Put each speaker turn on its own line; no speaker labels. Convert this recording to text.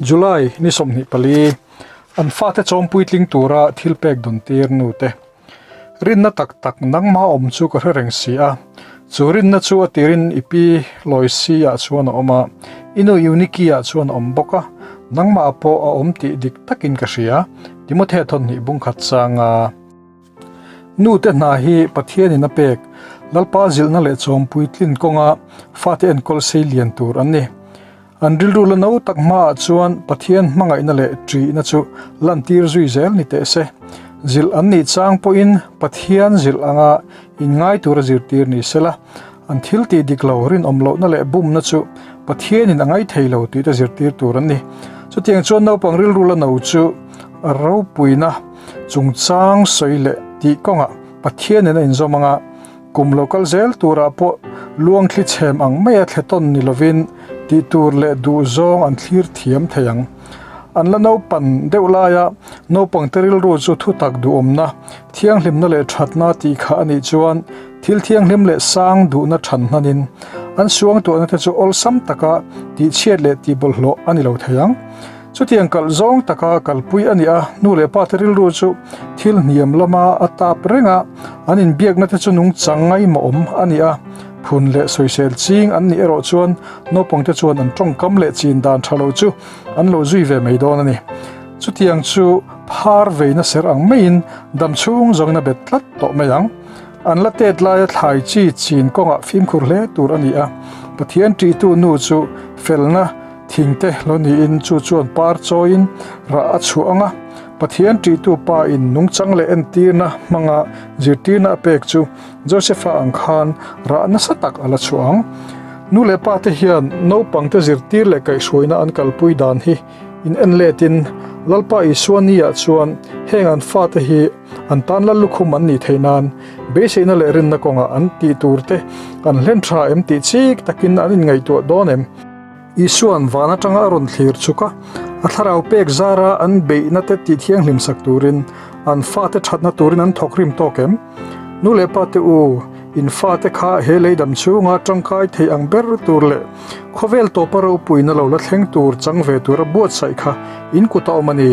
July ni sawmhnih pali, An fate chawm puitling tura thil pek dun tir nu te. Rinna tak tak nangma a awm chu ka hre reng si a. Chu rinna chu a tir in i pi Loisi ah chuan a awm a, i nu Euniki ah chuan a awm bawk a, nangma pawh a awm tih dik tak in ka hria. Timothy thawhnih bungkhat changa. Nute hna hi Pathianin a pek Lalpa zilhna leh chawm puitlin kawnga fate enkawlsei lian tur an ni. An rilru la no tak hmaah chuan Pathian hmangaihna leh ṭihna chu lantir zui zel ni teh se. Zilh an nih chang pawhin Pathian zilh anga inngai tura zirtir ni sela, An thil tih dik lo, rinawm lohna leh bumna chu Pathianin a ngai thei lo tihte zirtir tur an ni. Chutiang chuan naupang rilru la no chu ropuina chungchang sawi leh tih kawnga Pathianin a inzawm anga kum lo kal zel turah pawh luangthli chhem ang maia thletawn ni lovin tihtur leh duhzawng an thlir thiam thei ang. An la naupan deuh laia naupangte rilru chu thutak duhawmna, thianghlimna leh thatna tih kha a nih chuan thil thianghlim leh sang duhna than hnanin an suangtuahna te chu awlsam taka tihchhiat leh tihbawlhhlawh a ni lo thei ang. Chutiang kalh zawng taka kalpui a ni a, nu leh pate rilru chu thil hniam lama a tap renga an inbiakna te chu nungchang ngaimawawm a ni a, Phun leh sawisel ching an nih erawh chuan naupangte chuan an tawngkam leh chin dan tha lo chu an lo zui ve mai dawn a ni. Chutiang chu phar veina ser ang maiin dam chhung zawngina bet tlat tawh mai ang. An la tet laia thlai chi chin kawngah fimkhur hle tur a ni a. Pathian ṭihtu nu chu felna thingte lo niin chu chuan par chawiin rah a chhuah ang a. Pathian ṭihtu pain nungchang leh entirna hmanga zirtirna a pek chu Joseph-a ang khan rah nasa tak a la chhuah ang. Nu leh pa te hian naupangte zirtir leh kaihhruaina an kalpui dan hi in en letin Lalpa Isua ni-ah chuan heng an fate hi an tan lal lukhum an nih theih nan beiseina leh rinna kawngah an tih turte an hlen tha em tih chik takin an inngaihtuah dawn em? Isua'n van atanga a rawn thlir chuk a, a thlarau pek zara an beihna-te tih thianghlim sak turin an fate thatna turin an thawk rim tawk em? Nu leh pate u, in fate kha he leidam chhunga tangkai thei ang ber tur leh khawvel tawpa ropuina lo la thleng tur chang ve tura buatsaih kha in kut a awm a ni.